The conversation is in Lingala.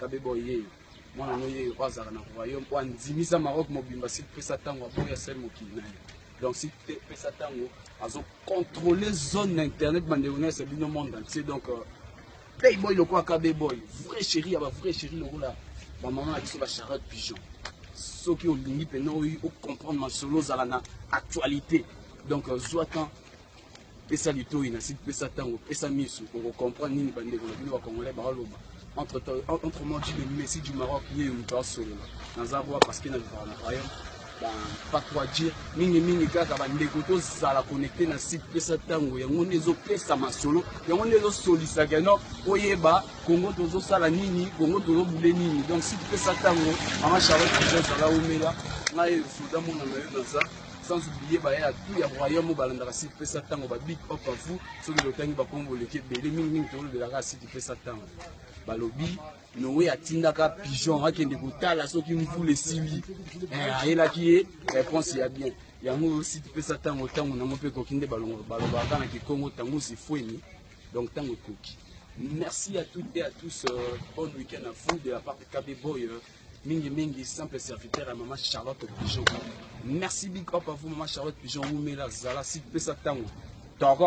Kabeba oyee mwana no ye oyo azalaka na royaume oyo andimisa maroc mobimba si pesa ntango aboya sel mokili na ye donc si te pesa ntango azocontrole zone na internet bandeko nyonso bino monde entier donc euh, playboy lokola kabe boy vrai chéri ya bavrai chéri lokola bamama na biso bacharlotte pigeon soki olingi mpena oyi ocomprendre masolo ozala na actualité donc euh, zwa temps pesa litoyi na site pesa tango pesa misu oko comprendre nini bandeko na bino ba congolais baoloba entre entre moi du messi du maroc ye moto asolola naza roi parce que na vivaka na royaume pas quoi dire mingi mingi kaka bandeko tozala connecte na site pesa ntango yango nde ezopesa masolo yango nde ezosolisa ke non oyeba kongo tozosala nini kongo tozobule nini donc site pesa ntango mama charlotte ezala omela ngai soda mona na yo naza sans oublier baye ya tout ya royaume oyo balandaka site pesa ntango ba big up à vous soki lotangi bakombo oleki ebele mingimingi tolobelaka site pesa ntango balobi noe atindaka pigeon akende kotala soki mvula esili eh, ayelaki ye réponse ya bien yango site pesa ntango ntango nango mpe ekoki nde balobaka na kikongo ntango sifueni donc ntango ekoki merci à toutes et à tous euh, bon week-end à vous de la part de KB Boy euh. mingi mingi simple serviteur ya mama charlotte pigeon merci big up à vous mama charlotte pigeon wumela zala si pesa ntango toko